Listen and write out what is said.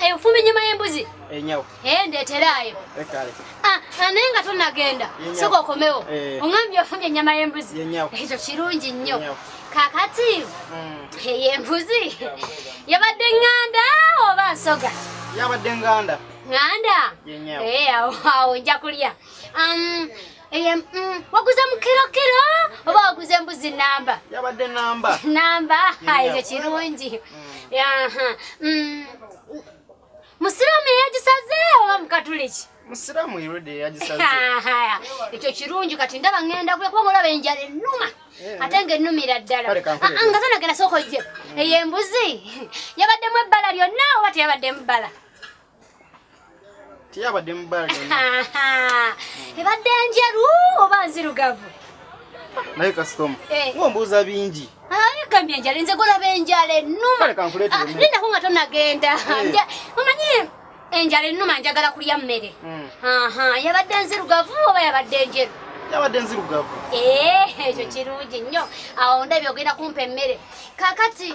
eyo eh, fumbi nyama y'embuzi enyawo eh, eh ndeteraayo eh, kale ah, ah naye nga tonagenda soka okomewo ongambye ofumbye ennyama y'embuzi ekyo kirungi nnyo kakati hmm. ey'embuzi yabadde nganda oba nsoga yabadde nganda nganda awo nja kulya um, Eye mm, waguze mukiro kiro oba waguze mbuzi namba? Yabadde namba. Namba hayo kirungi. Mm. Aha. Mm. Musiramu yagisaze oba mukatuliki? Musiramu irudi yagisaze. Haya. Ekyo kirungi kati ndaba ngenda kule kuba olaba enjala ennuma. Eh. Ate ng'ennumira ddala. Ah, ah, nga zona genda soko je. Mm. Eye mbuzi. Yabaddemu ebbala lyonna oba teyabaddemu bbala? teyabadde mubaale ebadde njeru oba nzirugavu naye kasitoma eh. ngombuuza bingi gambye enjala nze golaba enjala ennuma lindako nga tonagenda eh. omanyi enjala ennuma njagala kulya mmere hmm. yabadde nzirugavu oba yabadde njeru yabadde nzirugavu eh, ekyo kirungi nnyo awo ndabye ogenda kumpa emmere kakati